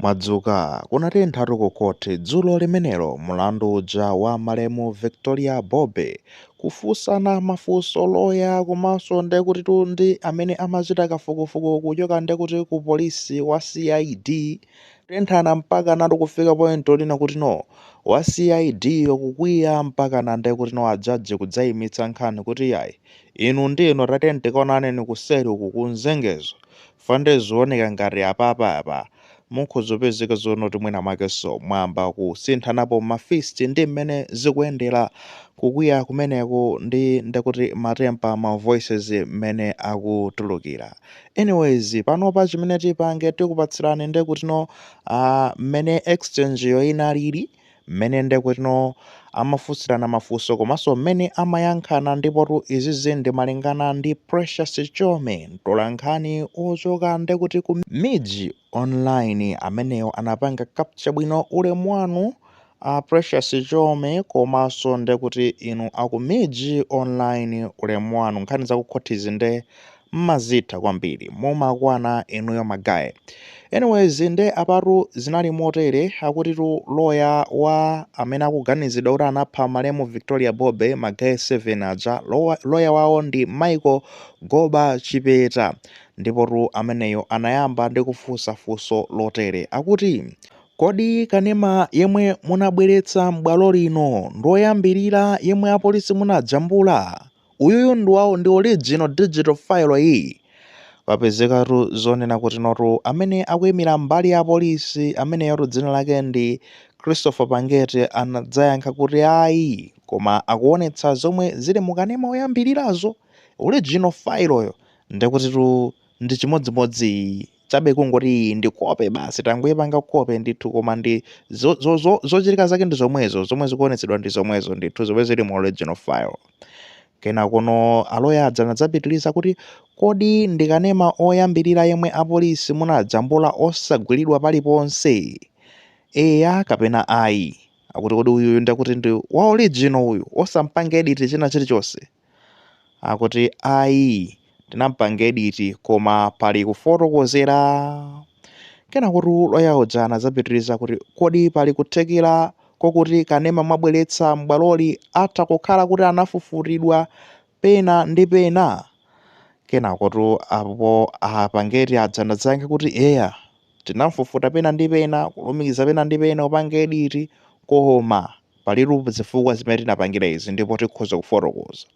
Mwadzuka, kunatentha tu ku court dzulo limenelo mulandu uja wa malemu Victoria Bobe kufunsana mafunso loya komanso ndekuti tu ndi amene amachita kafukufuku kuchoka ndekuti ku police wa CID tenthana mpaka natu kufika point yonena kuti no wa CID yo kukwiya mpaka na ndekuti no a judge kudzaimitsa nkhani kuti yayi inu ndi inu tatenganani kaonaneni kuseri uku kunzengezo Nde zikuoneka ngati apapa apa mukhoza kupezeka zonoti mwina mwakenso mwayamba kusinthanapo ma fist ndi mmene zikuyendera kukwiya kumeneko ndi ndekuti ma temper ma voices mmene akutulukira anyways panopa chimene tipange tikupatsirani ndekutino aah mmene exchange yo inalili mmene ndekutino amafunsirana mafunso komanso mmene amayankhana ndipotu izizi ndimalingana ndi Precious Chome mtolankhani ochoka ndekuti ku MIJ online ameneyo anapanga capture bwino ulemu wanu a Precious Chome komanso ndekuti inu aku MIJ online ulemu wanu nkhani zakukhothizi nde mmazitha kwambiri mumakwana inuyo ma guy anyways nde apatu zinali motere akutitu lawyer wa amene akuganizidwa kuti anapha malemu Victoria Bobe ma guy 7 aja lawyer wawo ndi Michael Goba Chipeta ndipotu ameneyo anayamba ndi kufunsa funso lotere akuti kodi kanema yemwe munabweretsa m'bwalo lino ndioyambirira yemwe apolisi munajambula? Uyuyu ndi wawo ndi original digital file iyi. Papezekatu zonena kutinotu amene akuimira mbali ya polisi ameneyotu dzina lake ndi Christopher Pangete anadzayankha kuti ayi koma akuonetsa zomwe zili mu kanema oyambirirazo original file yo ndekutitu ndi chimodzimodzi iyi. chabe kungoti iyi ndi kope basi tangoyipanga kope ndithu koma ndi zochitika zake ndi zomwezo zomwe zikuonetsedwa ndi zomwezo ndithu zomwe zili mu original file kenakono aloya aja anadzapitiriza kuti kodi ndikanema oyambirira yemwe apolisi munajambula osagwiridwa paliponse eya kapena ayi akuti kodi uyuyu ndekuti ndi wa original uyu osampanga edit china chilichonse akuti ayi tinampanga editi koma pali kufotokozera kenakotu loya uja anadzapitiriza kuti kodi pali kuthekera kokuti kanema mwabweretsa m'bwaloli atha kukhala kuti anafufutidwa pena ndi pena kenakotu apo a Pangete aja anadzayankha kuti eya tinamfufuta pena ndi pena kulumikiza pena ndi pena kupanga editi koma Palitu zifukwa zimene tinapangira izi ndipo tikhoza kufotokoza.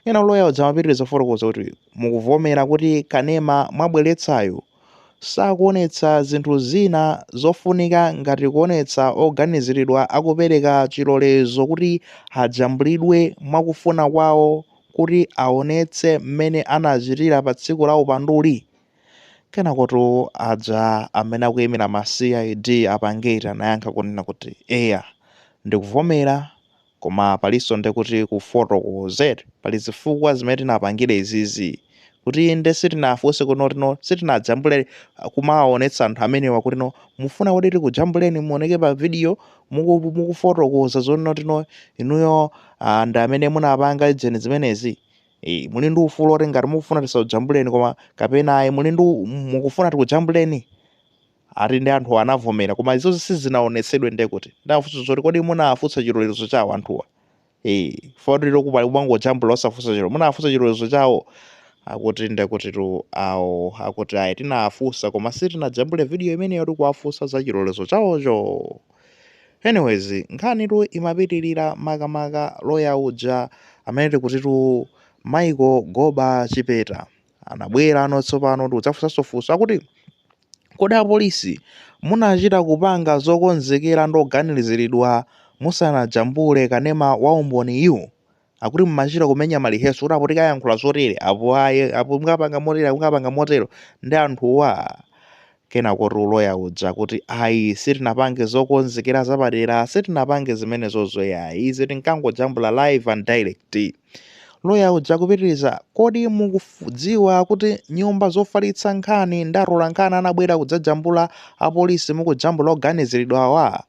Kenako loya uja amapitiriza kufotokoza kuti, Mukuvomera kuti kanema mwabweretsayo sakuonetsa zinthu zina zofunika ngati kuonetsa oganiziridwa akupereka chilolezo kuti ajambulidwe mwa kufuna kwawo kuti aonetse mmene anachitira pa tsiku la upanduli? Kenakotu aja amene akuyimira ma cid a Pangeti anayankha kunena kuti eya ndikuvomera koma palinso nde kuti kufotokozera pali zifukwa zimene tinapangira izizi kuti inde sitinafunse kuti no kuti no sitinajambule kumawawonetsa anthu amenewa kuti no mufuna kuti tikujambuleni muwoneke pa video muku mukufotokoza zoti no kuti no inuyo ah, ndi amene munapanga ujeni zimenezi Eyi, muli ndi ufulu oti ngati mukufuna tisakujambuleni koma kapena ayi muli ndi u- mukufuna tikujambuleni ati ndi anthu anavomera koma izo sizinaonetsedwe ndiye kuti ndafunsa zoti kodi munafunsa chilolezo chawo anthuwa eh foti lokupali kumangojambula osafunsa chilo munafunsa chilolezo chawo akuti ndiye kuti tu awo akuti ayi tinafunsa koma sitinajambule video imeneyo tikuwafunsa za chilolezo chawocho anyways nkhanitu imapitirira makamaka loya uja amene tikutitu michael goba chipeta anabwerano tsopano ndikudzafunsanso funso akuti kodi apolisi munachita kupanga zokonzekera ndoganiziridwa musanajambule kanema wa umboniyu akuti mumachita kumenya ma rehearsal kuti apo tikayankhula zotere apo aye apo mukapanga motere mukapanga motero ndi anthuwa kenakotu loya uja kuti ayi sitinapange zokonzekera zapadera sitinapange zimenezozo ayi izi tinkangojambula live and direct loya uja kupitiriza kodi mukudziwa kuti nyumba zofalitsa nkhani ndi atolankhani anabwera kudzajambula apolisi mukujambula oganiziridwawa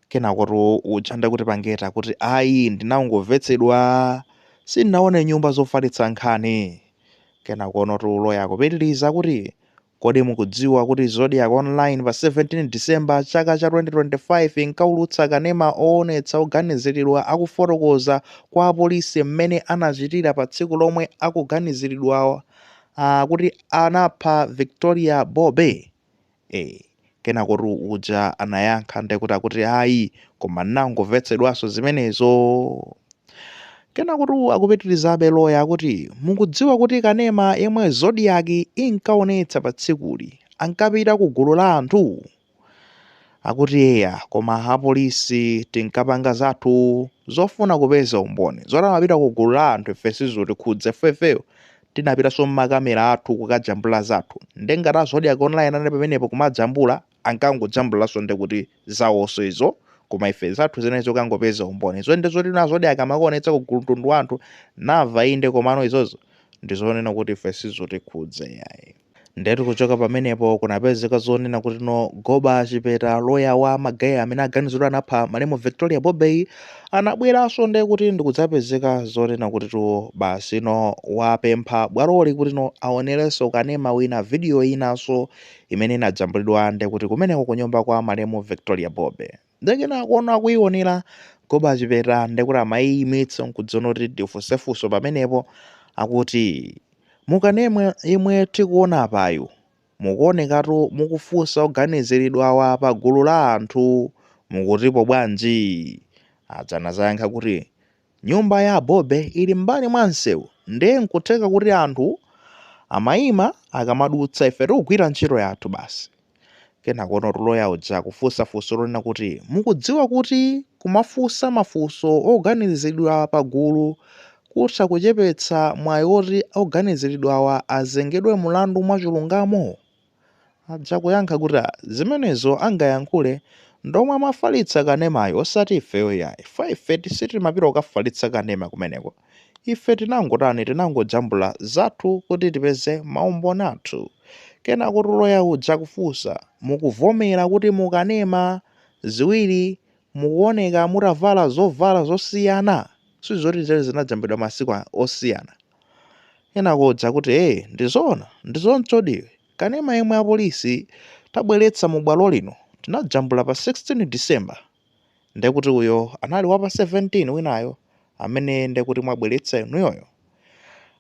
Kenakotu uja nde kuti Pangeti kuti ayi ndinangomvetsedwa sindinaone nyumba zofalitsa nkhani. Kenakonotu loya akupitiriza kuti kodi mukudziwa kuti Zodiak Online pa 17 December chaka cha 2025 inkaulutsa kanema oonetsa oganiziridwa akufotokoza kwa apolisi mmene anachitira pa tsiku lomwe akuganiziridwa ah, kuti anapha Victoria Bobe? Eh, kenakotu uja anayankha ndekuti akuti ayi koma nnangomvetsedwanso zimenezo kenakotu akupitirizabe loya akuti mukudziwa kuti kanema yemwe Zodiak inkaonetsa pa tsikuli ankapita ku gulu la anthu akuti eya koma apolisi tinkapanga zathu zofuna kupeza umboni zoti amapita ku gulu la anthu ife sizotikhudza ifefeyo tinapitanso m'ma camera athu kukajambula zathu nde ngati a zodiak online anali pamenepo kumajambula ankangojambulanso nde kuti zawonso izo koma ife zathu zinali zokangopeza umboni izo nde zoti a zodiak amakaonetsa ku gulu mtundu wa anthu nava inde komano izozo ndizonena kuti ife sizotikhudza yayi Ndetu kuchoka pamenepo kunapezeka zonena kuti no Goba Chipeta loya wa ma guy amene aganizidwa anapha malemu Victoria Bobey anabweranso nde kuti ndikudzapezeka zonena kuti tu basi no wapempha bwaloli kuti no aonerenso kanema wina video inanso imene inajambulidwa nde kuti kumeneko kunyumba kwa malemu Victoria Bobey. Nde kenakono kuionera Goba Chipeta nde kuti amaiimitsa nkuziona kuti ndifunse funso pamenepo akuti mukanema yemwe tikuona apayo mukuonekatu mukufunsa oganiziridwawa pa gulu la anthu mukutipo bwanji? Aja anadzayankha kuti Nyumba ya a Bobe ili m'mbali mwa msewu nde n'kutheka kuti anthu amaima akamadutsa ife tikugwira ntchito yathu basi. Kenakonotu loya uja kufunsa funso lonena kuti, Mukudziwa kuti kumafunsa mafunso oganiziridwa pagulu kutha kuchepetsa mwayi woti oganiziridwawa azengedwe mlandu mwachilungamo? aja kuyankha kuti ah zimenezo angayankhule ndi omwe amafalitsa kanemayo osati ifeyo yayi chifukwa ife ti- sitimapita kukafalitsa kanema kumeneko ife tinangotani tinangojambula zathu kuti tipeze maumboni athu kenakotu loya uja kufunsa mukuvomera kuti mukanema ziwiri mukuoneka mutavala zovala zosiyana sizoti zinajambulidwa masiku a- osiyana Kenako uja kuti ee ndizoona ndizoonadi kanema yemwe apolisi tabweretsa mu bwalo lino tinajambula pa 16 December ndekuti uyo anali wapa 17 winayo amene ndekuti mwabweretsa inuyoyo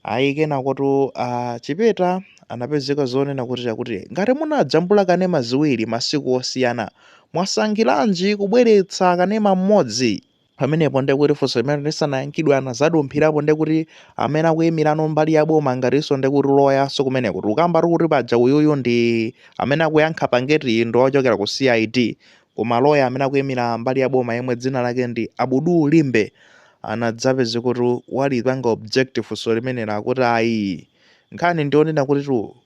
ayi kenakotu a Chipeta anapezeka zonena kuti akuti ngati munajambula kanema ziwiri masiku osiyana mwasankhiranji kubweretsa kanema mmodzi pamenepo ndiye kuti funso limene lisanayankhidwe anadzadumphirapo ndiye kuti amene akuyimirano mbali ya boma ngatinso ndiye kuti loyanso kumeneko tikukamba tikuti paja uyuyu ndi amene akuyankha pangeti ndi ochokera ku cid koma loya amene akuyimira mbali ya boma yemwe dzina lake ndi abudu limbe anadzapezeka kuti walipanga objective funso limenelo akuti ayi nkhani ndionena kuti tu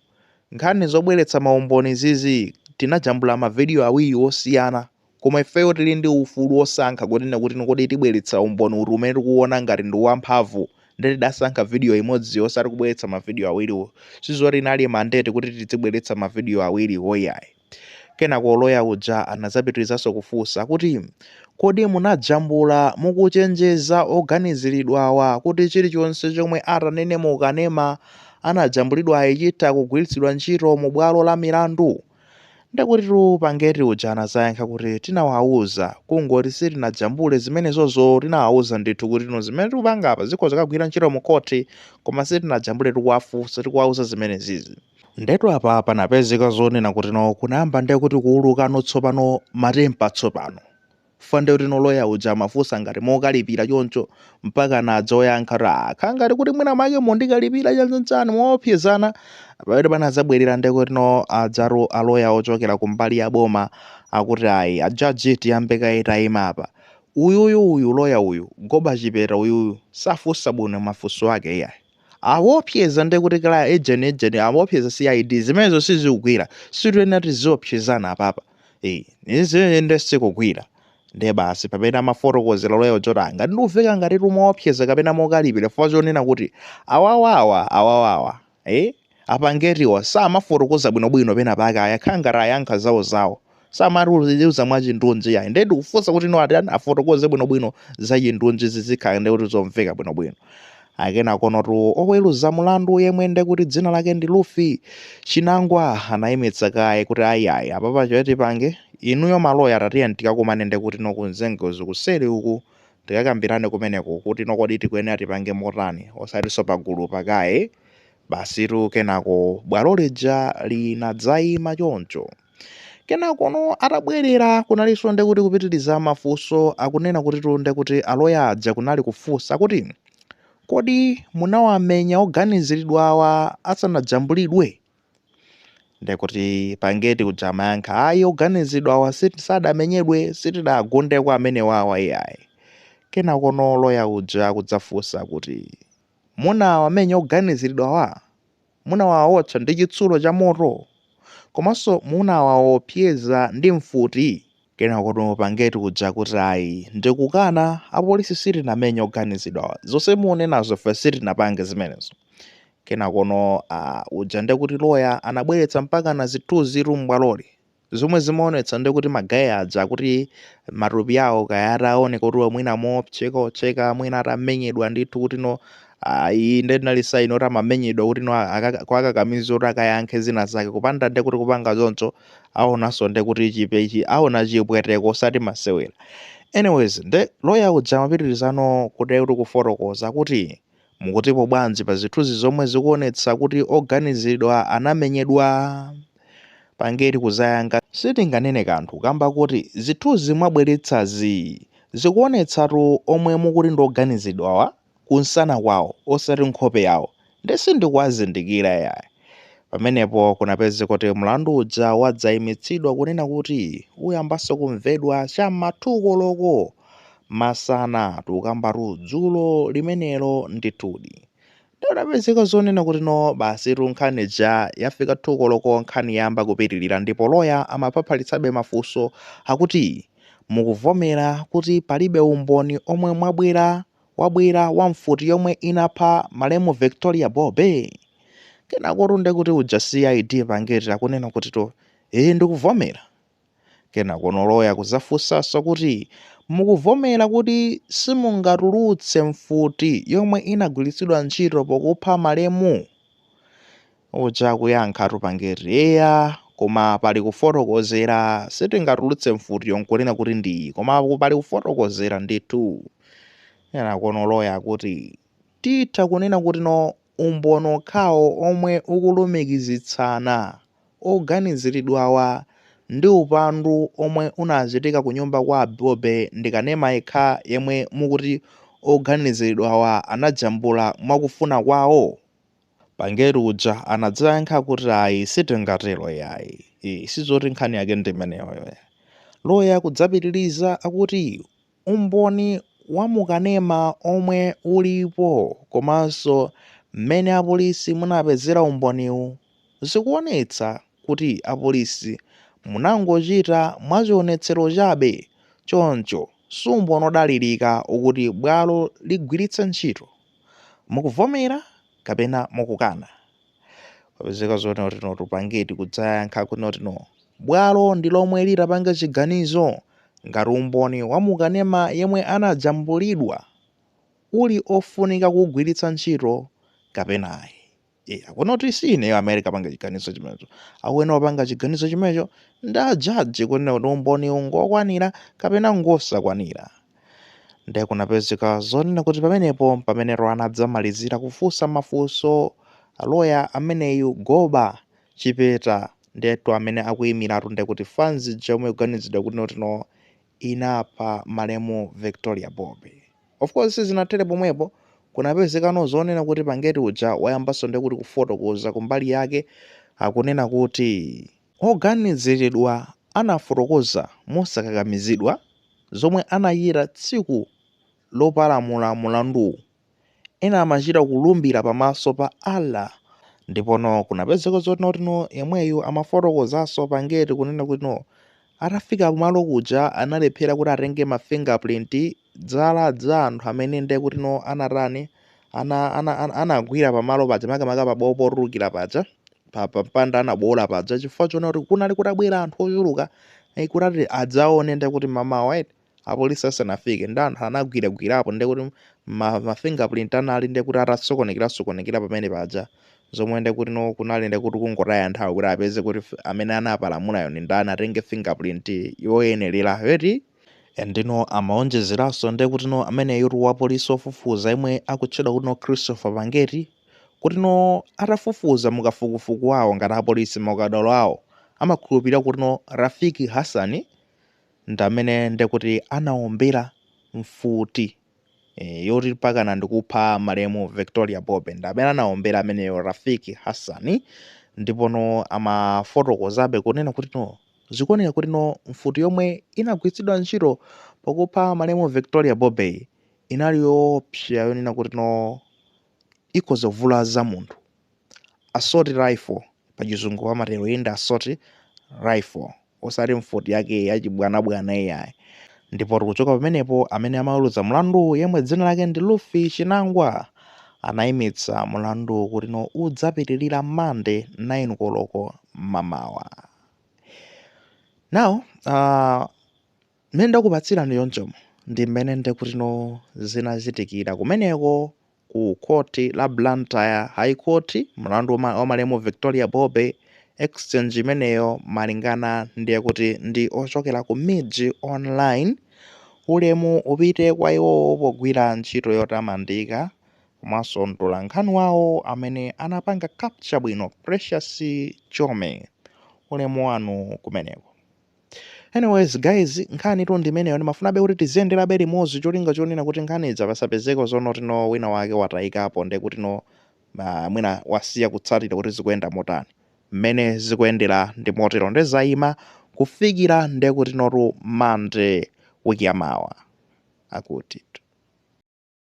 nkhani zobweretsa maumboni zizi tinajambula mavidiyo awiri osiyana Koma ifeyo tili ndi ufulu wosankha kunena kuti kodi tibweretsa umboni uti umene tikuuona ngati ndi wamphamvu. Ndiye tidasankha video imodzi yo osati kubweretsa mavideo awiriwo. Si zoti inali mandate kuti tizibweretsa mavideo awiriwo iyayi. Kenako loya uja anadzapitirizanso kufunsa kuti, Kodi munajambula mukuchenjeza oganiziridwawa kuti chilichonse chomwe atanene mu kanema anajambulidwayi chitha kugwiritsidwa ntchito mu bwalo la milandu? Ndekuti mpangeti uja anazayankha kuti tinawauza kungoti sitinajambule zimenezozo tinawauza ndithu kuti no zimene tikupanga apa zikhoza kukagwira ntchito mu court koma sitinajambule tikuwafunsa tikuwauza zimenezizi. Ndetu apa panapezeka zonena kuti no kunayamba ndekuti kuulukano tsopano matempa tsopano. Fande kuti no loya uja amafunsa ngati mokalipira choncho mpaka anadzayankha kuti akukhala ngati kuti mwina make mondikalipira chanichani moopsezana pamene panadzabwerera ndekuti no adza aloya ochokera kumbali ya boma akuti ayi ajaji tiyambe kaye tayima apa uyuyu uyu loya uyu Goba Chipeta uyuyu safunsa bwino mafunso ake iyayi awopseza ndekuti kala ejeni ejeni awopseza CID zimenezo sizikugwira sitikuyenera tiziopsezana apapa Eh, izi nde sikugwira nde basi pamene amafotokozera loya uja kuti ngati ndikuveka ngati timaopseza kapena mokalipira chifukwa chonena kuti awawawa awawawa eh? Apangetiwa samafotokoza bwinobwino pena pake akukhala ngati ayankha zawo zawo. Samatiuza mwachindunji yayi. Ndiye tikufunsa kuti no atani afotokoze bwinobwino za chindunji zizikhala ndiye kuti zomveka bwinobwino. Akenakonotu oweruza mlandu yemwe ndiye kuti dzina lake ndi Ruth Chinangwa anayimitsa kaye kuti ayi ayi apapa choti tipange inuyo maloya tatiyeni tikakumane ndiye kuti no kunzengozi kuseri uku tikakambirane kumeneko kuti no kodi tikuyenera tipange motani osatinso pagulupa kaye Basitu kenako bwalo lija linadzaima choncho. Kenakono atabwerera kunalinso nde kuti kupitiriza mafunso akunena kutitu nde kuti aloya aja kunali kufunsa kuti, Kodi munawamenya oganiziridwawa asanajambulidwe? Nde kuti mpangeti uja amayankha, Ayi oganiziridwawa sit sadamenyedwe, sitidawagundeko amenewawa iyayi. Kenakono loya uja akudzafunsa kuti, Munawamenya oganiziridwawa? Munawawotcha ndi chitsulo chamoto? Komanso munawaopseza ndi mfuti? Kenakono mpangeti uja kuti ayi ndikukana apolisi sitinamenye oganizidwawa zonse munenazo ife sitinapange zimenezo. Kenakono aah uja ndekuti lawyer anabweretsa mpaka na zithunzitu m'bwaloli. Zomwe zimaonetsa nde kuti magaye aja kuti matupi awo kaya ataoneka kuti mwina mochekacheka mwina atamenyedwa ndithu kuti no ah, iyi nde inali saini oti amamenyedwa kuti no akaka- kuwakakamiza kuti akayankhe zina zake kupanda nde kuti kupanga choncho aonanso nde kuti chipe chi aona chipweteko osati masewera anyways nde loya uja amapitirizano kuti kuti kufotokoza kuti Mukutipo bwanji pa zithunzi zomwe zikuonetsa kuti oganizilidwa anamenyedwa? Pangeti kuzayankha sitinganene kanthu kamba koti zithunzi mwabweletsazi zikuonetsatu omwe mukuti ndi oganizilidwawa kunsana kwawo osati nkhope yawo nde sindikuwazindikila yayi. Pamenepo kunapezeka kuti mlandu uja wadzaimitsidwa kunena kuti uyambanso kumvedwa cha m'ma 2 koloko Masana tukambatu dzulo limenelo ndithudi. Nde kunapezeka zonena kuti no basitu nkhani ija yafika 2 koloko nkhani yayamba kupitirira ndipo loya amaphaphalitsabe mafunso akuti mukuvomera kuti palibe umboni omwe mwabwera wabwera wa mfuti yomwe inapha malemu Victoria Bobe? Kenakotu ndekuti uja CID Pangeti akunena kutitu ee ndikuvomera. Kenakono loya kuzafunsanso kuti mukuvomera kuti simungatulutse mfuti yomwe inagwilitsidwa ntchito pokupha malemu? Uja akuyankhatu Pangeti eya koma pali kufotokozera sitingatulutse mfutiyo nkunena kuti ndi iyi koma pali kufotokozera ndithu. Kenakono loya akuti titha kunena kuti no umboni okhawo omwe ukulumikizitsana oganizilidwawa ndi upandu omwe unachitika ku nyumba kwa a Bobe ndi kanema yekha yemwe mukuti oganizilidwawa anajambula mwa kufuna kwawo? Pangeti uja anadzayankha kuti ayi sitingatelo yayi iih sizoti nkhani yake ndi imeneyoyo yayi. Loya kudzapitiliza akuti umboni wa mu kanema omwe ulipo komanso mmene apolisi munapezera umboniwu, zikuonetsa kuti apolisi munangochita mwachionetsero chabe choncho si umboni odalirika okuti bwalo ligwiritse ntchito. Mukuvomera kapena mukukana? wapezeka zonena kuti notu Pangeti kudzayankha kunena kuti no bwalo ndi lomwe litapanga chiganizo ngati umboni wa mukanema yemwe anajambulidwa uli ofunika kugwiritsa ntchito kapena ayi e, akunena kuti si ineyo amene ndikapanga chiganizo chimenecho akuyenera kupanga chiganizo chimenecho ndi ajaji kunena kuti umboniwu ngokwanira kapena ngosakwanira Nde kunapezeka zonena kuti pamenepo mpamene lawyer anadzamalizira kufunsa mafunso lawyer ameneyu Goba Chipeta ndiyetu amene akuimiratu ndekuti fanzi ija yomwe ikuganiziridwa kuti no inapha malemu Victoria Bobe. Of course sizinathere pomwepo, kunapezekano zonena kuti Pangeti uja wayambanso ndekuti kufotokoza kumbali yake akunena kuti. Oganiziridwa anafotokoza mosakakamizidwa zomwe anachita tsiku lopalamula mulanduwu. Ena amachita kulumbira pamaso pa Allah ndipono kunapezeka zoti kuti no yemweyu amafotokozanso Pangeti kunena kuti no atafika kumalo kuja analephera kuti atenge ma fingerprint zala za anthu amene ndiye kuti no anatani ana ana ana- anagwira pamalo paja makamaka pabowo potulukira paja pa pa mpanda anabowola paja chifukwa chona kuti kunali kutabwera anthu ochuluka eh, kuti adzaone ndiye kuti mamawa eti apolisi asanafike ndi anthu anagwiragwirapo ndiye kuti ma, ma fingerprint anali ndiye kuti atasokonekera sokonekera pamene paja zomwe ndiye kuti no kunali ndiye kuti kungotaya nthawi kuti apeze kuti f- amene anapalamulayo ndi ndani atenge fingerprint yoyenerera eti Ndeno amaonjezeraso nde kutino ameneyutu wa police ofufuza yemwe akutchedwa kutino Christopher Pangeti kutino atafufuza mukafukufuku wawo ngati apolice maukadaulo awo amakhulupilira kutino Rafiki Hassan ndamene ndekuti anaombera mfuti e, yoti pakana ndikupha malemu Victoria Bobe ndi amene anaombera ameneyo Rafiki Hassan ndipo no amafotokozabe kunena kuti no zikuoneka kuti no mfuti yomwe inagwiritsidwa ntchito pakupha malemu Victoria Bobe inali yoopsa yonena kuti no ikhoza kuvulaza munthu assault rifle pachizungu amatero iyi ndi assault rifle osati mfuti yake yachibwanabwana iyayi ndipo tikuchoka pamenepo amene amaweruza mlanduwu yemwe dzina lake ndi Ruth Chinangwa anayimitsa mlanduwu kuti no udzapitirira mande 9 koloko mamawa now uh, Mmene ndakupatsirani chonchomu ndi mmene ndekutino zinachitikira kumeneko ku court la Blantyre High Court mlandu wa malemu Victoria Bobe Exchange imeneyo malingana ndiye kuti ndi ochokera ku MIJ Online ulemu upite kwa iwowo pogwira ntchito yotamandika komanso mtolankhani wawo amene anapanga capture bwino Precious Chome ulemu wanu kumeneko. anyways guys nkhanitu ndi imeneyo ndimafunabe kuti tiziyenderabe limodzi cholinga chonena kuti nkhani idza pasapezeko zonoti no wina wake watayikapo nde kuti no uh, mwina wasiya kutsatira kuti zikuyenda motani mmene zikuyendera ndi motero nde zayima kufikira nde kuti no Monday wiki yamawa akuti